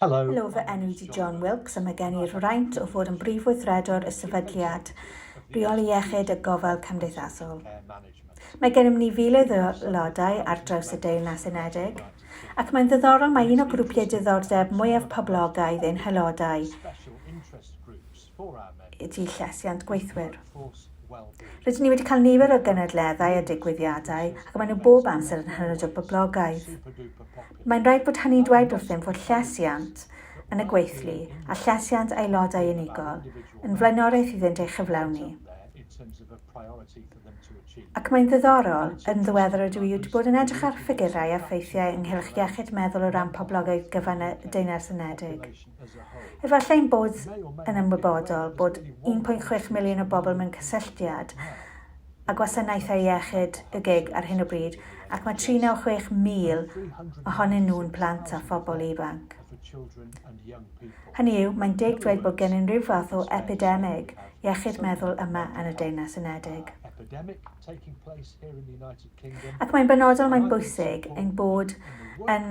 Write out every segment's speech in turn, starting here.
Helo, fy enw i ydy John Wilkes a mae gen i'r fraint o fod yn Brif Weithredwr y Sefydliad Rheoli Iechyd a Gofal Cymdeithasol. Mae gennym ni filoedd o aelodau ar draws y Deyrnas Unedig, ac mae'n ddiddorol mai un o grwpiau diddordeb mwyaf poblogaidd ein haelodau y tu llesiant gweithwyr. Rydyn ni wedi cael nifer o gynadleddau a digwyddiadau ac maen nhw bob amser yn hynod o boblogaidd. Mae'n rhaid bod hynny'n dweud wrthym fod llesiant yn y gweithlu a llesiant aelodau unigol yn flaenoriaeth iddynt ei chyflawni. Ac mae'n ddiddorol, yn ddiweddar rydw i wedi bod yn edrych ar ffigurau a ffeithiau ynghylch iechyd meddwl o ran poblogaeth gyfan y Deyrnas Unedig. Efallai ein bod yn ymwybodol bod 1.6 miliwn o bobl mewn cysylltiad â gwasanaethau iechyd y gig ar hyn o bryd ac mae 396,000 ohonyn nhw'n plant a phobl ifanc. Hynny yw, mae'n deg dweud bod gennym ryw fath o epidemig iechyd meddwl yma yn y Deyrnas Unedig. Ac mae'n benodol, mae'n bwysig ein bod yn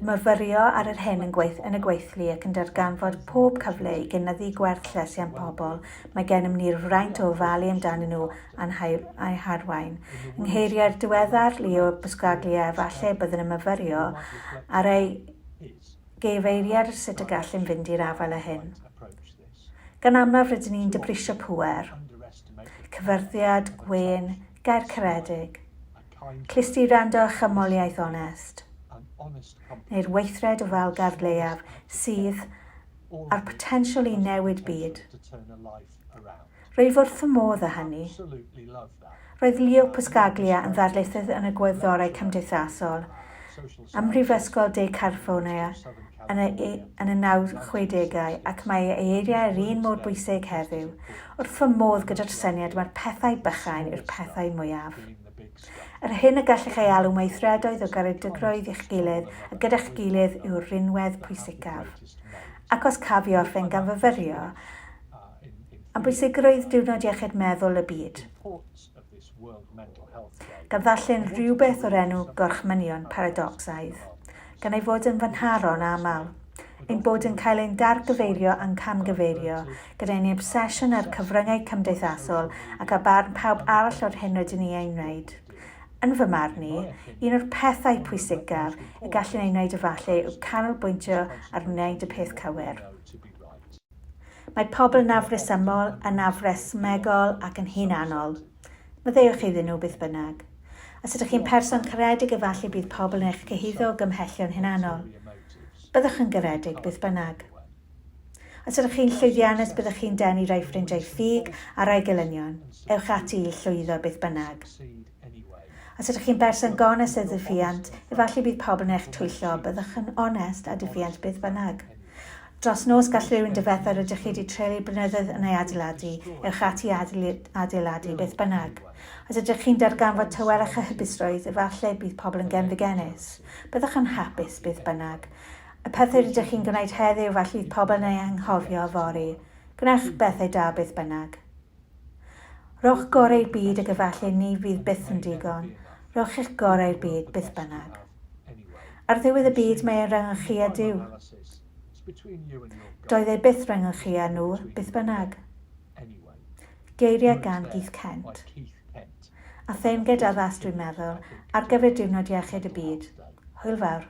myfyrio ar yr hyn yn, gweith, yn y gweithlu ac yn darganfod pob cyfle i gynyddu gwerth llesiant pobl, mae gennym ni'r fraint o ofalu amdanyn nhw a'n a'u harwain. Yng ngeiriau'r diweddar Leo Buscaglia, efallai y byddwn yn myfyrio ar ei Gyfeirier sut y gallem fynd i'r afael â hyn. Gan amlaf rydyn ni'n dibrisio pŵer. Cyfyrddiad, gwên, gair caredig. Clust i wrando a chymoliaeth onest. Neu'r weithred ofalgardd leiaf sydd â'r potensial i newid byd. Rwyf wrth fy modd â hynny. Roedd Leo Buscaglia yn ddarlithydd yn y Gwyddorau Cymdeithasol ym Mhrifysgol De California yn y, yn y 1960au ac mae ei eiriau yr un mor bwysig heddiw. Wrth fy modd gyda'r syniad mae'r pethau bychain yw'r pethau mwyaf. Yr hyn y gallech ei alw'n weithredoedd o garedigrwydd i'ch gilydd a gyda'ch gilydd yw'r rhinwedd pwysicaf. Ac os caf i orffen gan fyfyrio, Am bwysigrwydd Diwrnod Iechyd Meddwl y Byd, gan ddarllen rhywbeth o'r enw Gorchmynion Paradocsaidd, gan ei fod yn fynharon aml, ein bod yn cael ein dargyfeirio a'n camgyfeirio, gyda'u obsesiwn â'r cyfryngau cymdeithasol ac â barn pawb arall o'r hyn rydyn ni ei wneud. Yn fy marn i, un o'r pethau pwysicaf y gallwn ei wneud efallai yw canolbwyntio ar wneud y peth cywir. Mae pobl yn afresymol, yn afresymegol ac yn hunanol. Maddeuwch iddyn nhw, beth bynnag. Os ydych chi'n person caredig efallai bydd pobl yn eich cyhuddo o gymhellion hunanol. Byddwch yn garedig, beth bynnag. Os ydych chi'n llwyddiannus byddwch chi'n denu rhai ffrindiau ffug a rhai gelynion. Ewch ati i llwyddo, beth bynnag. Os ydych chi'n berson gonest a diffuant, efallai bydd pawb yn eich twyllo, byddwch yn onest a diffuant beth bynnag. Dros nos gall rhywun difetha rydych chi wedi treulio blynyddoedd yn ei adeiladu, ewch ati i adeiladu beth bynnag. Os ydych chi'n darganfod tawelwch a hapusrwydd, efallai bydd pobl yn genfigennus, byddwch yn hapus beth bynnag. Y pethau rydych chi'n gwneud heddiw, efallai fydd pobl yn eu anghofio yfory. Gwnewch bethau da beth bynnag. Rhowch goreu byd ag efallai ni fydd byth yn digon, rhowch eich gorau'r byd beth bynnag. Ar ddiwedd y byd mae e'n rhyngddo chi a Duw. Doedd e byth rhyngddo chi a nhw beth bynnag. Geiriau gan Keith Kent. A theyrnged addas dwi'n meddwl, ar gyfer diwrnod iechyd y byd. Hwyl fawr.